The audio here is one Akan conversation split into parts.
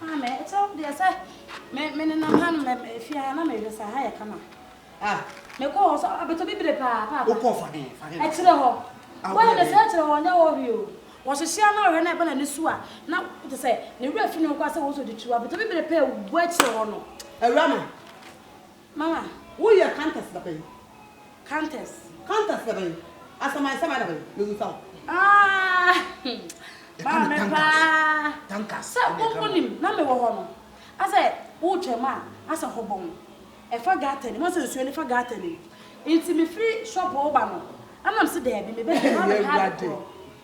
Maame, ɛkyɛ deɛ sɛ me me nenam ha no mɛ mɛ fie ha na mehwɛ sɛ ha yɛ kama. Ah. Mekɔ hɔ sɛ abɛtɔ bibire paa paa. Wokɔ fa dɛn fa dɛn. Ɛkyerɛ hɔ. Wɔyɛ ne sɛ ɛkyerɛ hɔ nyɛ wɔ hwee o. Wɔhyehyɛ a na ɔhwɛ na ɛba n'ani so a na te sɛ ne werɛ fi ne ho koraa sɛ wɔn sɛ ɔde tu abɛtɔ bibire paa wɔ akyire hɔ no. Awurama. Ma wo yɛ countess da bɛn? Countess. Countess da bɛn? Asaman saman da bɛn? Me busa wo. Aah! Maa me paa. Sɛ wo wo nim na me wɔ hɔ no, asɛ wo twam a, asɛ hɔ bɔn. Ɛfa gutter nim, asɛ nsuo no fa gutter nim. Nti me firi shop wo ba no, ɛna me se daabi, me bɛ hwɛ hɔ a me ha de korɔ.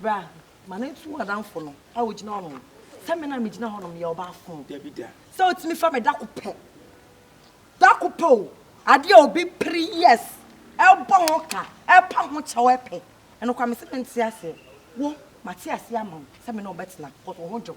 Bra, ma no ntu w'adamfo no a ogyina hɔ no. Sɛ me na megyina hɔ no meyɛ ɔbaafo. Dabi da. Sɛ otumi fa me dako pɛ. Dako pɛ o. Ade a obi pere years ɛbɔ ho ka, ɛpa ho kyɛw ɛpɛ. Ɛno koraa mese mente aseɛ. Wo, mate aseɛ ama wo sɛ me ne wo bɛtena, cause wo ho dwo.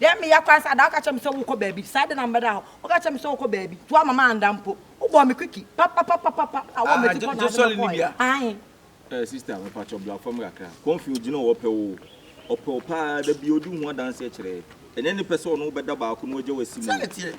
Dɛn meyɛ koraa sɛ ada woka kyerɛ me sɛ wokɔ baabi, saa de na mebɛda hɔ, woka kyerɛ me sɛ wokɔ baabi, nti woamma manda mpo, wobɔɔ me kwiki papapapapapa na wowɔ m'akyi kɔ na wode me kɔɔɛ, ahe. Eh sister me pakyɛ bla fam kakra Comfy ogyina hɔ ɔpɛ wo ɔpɛ wo paa dabia odi ho adanseɛ kyerɛ ɛnyɛ ne pɛ sɛ ɔne wo bɛda baako na wagya wo asi mu o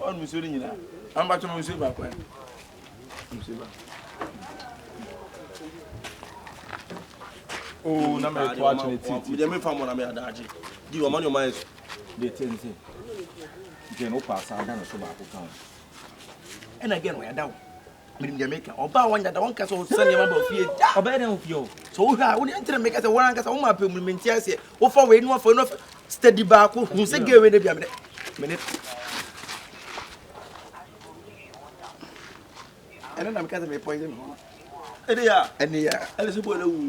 Ɔnom nsuo no nyinaa. Ampakyɛ mo nsuo baako ɛ. Nsuo baako. Oo na mɛ to akyene ti ti. Mede me fa mo na me adagye. Di wɔn ne wɔn ayɛ so. De te nse. Gɛn wokɔ asa ada no so baako ka ho. Ɛna gɛn wɔyɛ da wo. menim deɛ meka ɔba a wɔnyɛ da wɔnka sɛ ɔsɛ nneɛma ba ofie da ɔbɛyɛ dɛn ofie hɔ sɛ wohwɛ a wone ɛnkyerɛ meka sɛ wɔn ankasa woma apɛ mu no mente aseɛ wofa wei no afa no afa steady baako hu sɛ gɛ wei no bia mene mene ɛne na meka sɛ mepɔyɛ me ho ɛne yɛ ɛne yɛ ɛne sɛ bɔɔ na wu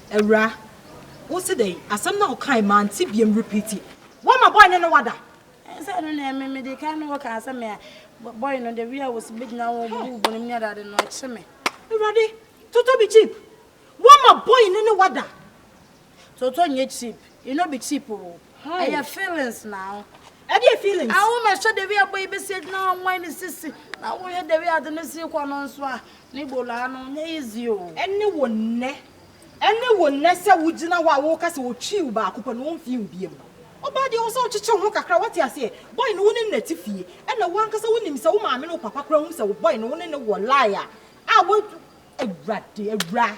Awura, wo se dɛn? Asɛm no a ɔkae, mante biam, repeat. Woama boy no ne wo ada? Ɛnsɛ ɛno na ɛme me de kan ne wo kaa sɛ me a boy no the way a wɔsi bɛgyina wo bubu wo bonim ne adeade no ɛkye me. Awurade, Toto be cheap, woama boy no ne wo ada? Toto nyɛ cheap, e no be cheap oo. Ɛyɛ feelings na ho. Ɛdeɛ feelings. Awo ma hyɛ dewi abo yi besi agyina hɔ nwan ne sisi na wo hwɛ dewi ade ne si kɔ no nso a ne bolaa no nyɛ easy o. Ɛne wo nnɛ ɛne wo nnɛ sɛ wo gyina hɔ a wo ka sɛ otwii wo baako pɛ no onfii wo biam no ɔbaa deɛ ɛwɔ sɛ wokyekye wo ho kakra wate aseɛ boy no wo ne no na te fie ɛna wo ankasa wo nim sɛ wo maame ne wo papa koraa hu sɛ wo boy no wo ne no wɔ lie a a wo awurade awura.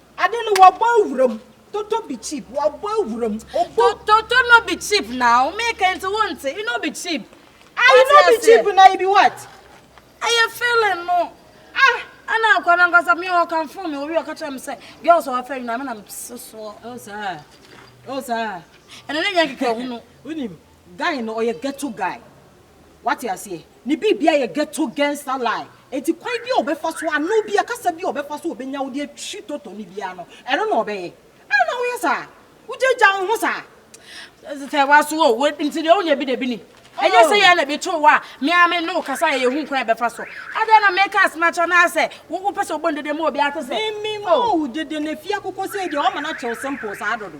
Ade no wɔbɔ awuram. Toto be cheap, wɔbɔ awuram. Obo. Toto no be cheap now, meka nti wonte, e no be cheap. Ah, e no be cheap na e be what? Ɛyɛ feeling no. Ah! Ɛna akwa no ankasa me hɔ kamfoo me owie ɔka kyerɛ me sɛ girls a wɔfɛ nyinaa me na me sesoɔ. Oh saa, oh saa. Ɛno ne nyɛ kɛkɛ hunu. Wonim, Guy no ɔyɛ ghetto guy wate aseɛ ne biribia yɛ ghetto gangster lie enti kwan bia ɔbɛfa so ano bia kasa bia ɔbɛfa so ɔbɛnya wode atwi toto no biaa no ɛno na ɔbɛyɛ adɛn na woyɛ saa wogyaagyaa wo ho saa sɛ waso o wo nti deɛ wonya bi na bi nim ɛnyɛ sɛ yɛ na bi too wo a me a me ne wo kasa yɛ yɛhu kwan ɛbɛfa so adɛn na meka ase no akyɛ no asɛ wopɛ sɛ wobɔ no dede ma obi ate sɛ me me ma wo dede na fie akokɔ sɛ deɛ ɔma no akyɛw simple saa dodo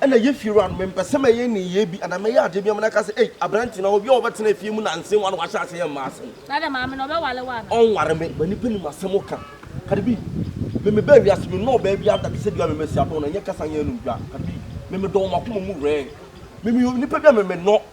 Ɛna yɛ fie wura no, mempɛ sɛ mɛyɛ nneyɛɛ bi anaa mɛyɛ adeɛ bi ama no aka sɛ, Ei, aberante, anaa obi a ɔbɛtena fie mu nnansa yi ara na wahyɛ aseɛ yɛ mmaa asɛm. Na dɛn maame no, ɔbɛware wo anaa? Ɔnware me, ma nnipa nim asɛm woka. Cardi B, Me mebaa wiase, mennɔɔ ɔbaa biara da te sɛ dua a mema si adɔn no, ɛnyɛ kasa, ɛnyɛ anum dua. Cardi B, Me medɔ wɔ m'akoma mu wɛɛn. Me meyɛ onipa bi a me mennɔ.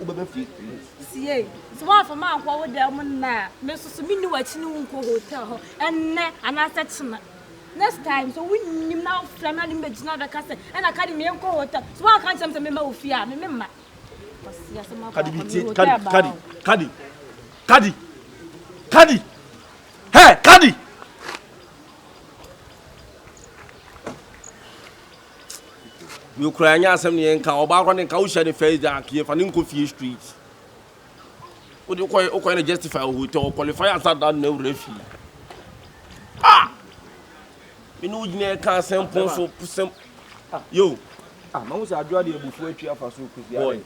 wobɛba fie mu. Tie, sɛ woamfa me ankɔ wo dan mu nnɛ a, me nso so menni w'akyi ne wo nkɔ hotel hɔ ɛnnɛ anaasɛ kyena. Next time, sɛ wonnim na wofrɛ me na ne mɛgyina bɛka sɛ ɛna ka de me nkɔ hotel, sɛ woanka nkyerɛ me sɛ mema wo fie a, me memma. Ɔsi asɛ ma kɔ akɔ me hotel baa. Kadi, kadi, kadi, kadi, hɛ, kadi. Me kura ɛnyɛ asɛm ne yɛn nka ɔbaa kora ne nka wohyɛ ne first day anka yɛfa ne nkɔ fie street wode wokɔyɛ wokɔyɛ ne justify wɔ hotel wɔ qualify ansa da no na awura fie ah me ne wo gyina ɛka asɛm pon so sɛm yo ah mahu sɛ adwoa de abufuo atwi afa so kɔsi boy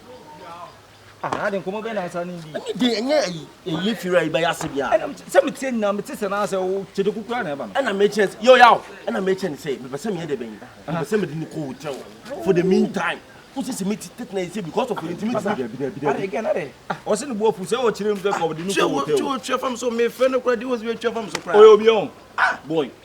Ah, ade nkɔmɔ bɛn na asa ne bi. Ɛne de ɛnyɛ ayi ɛyi firi ayi bɛyɛ ase bia. Ɛna sɛ me tie nyina me te sɛ na sɛ wo kyede kukura na ɛba no. Ɛna me kyɛn sɛ yo yaw. Ɛna me kyɛn sɛ me pɛ sɛ me yɛ de bɛn. Me pɛ sɛ me de ne kɔ hotel for the meantime. Wo sɛ sɛ me ti tete na yɛ sɛ because of you nti me ti. Dabi dabi dabi. Are again are. Ah, ɔsɛ ne boɔ fu sɛ ɔkyerɛ mu sɛ kɔ de ne kɔ hotel. Kyɛ wo kyɛ wo kyɛ fam so me fɛ no kura di wo sɛ me kyɛ fam so kura. Ɔyɛ obi ɔn. Ah boy.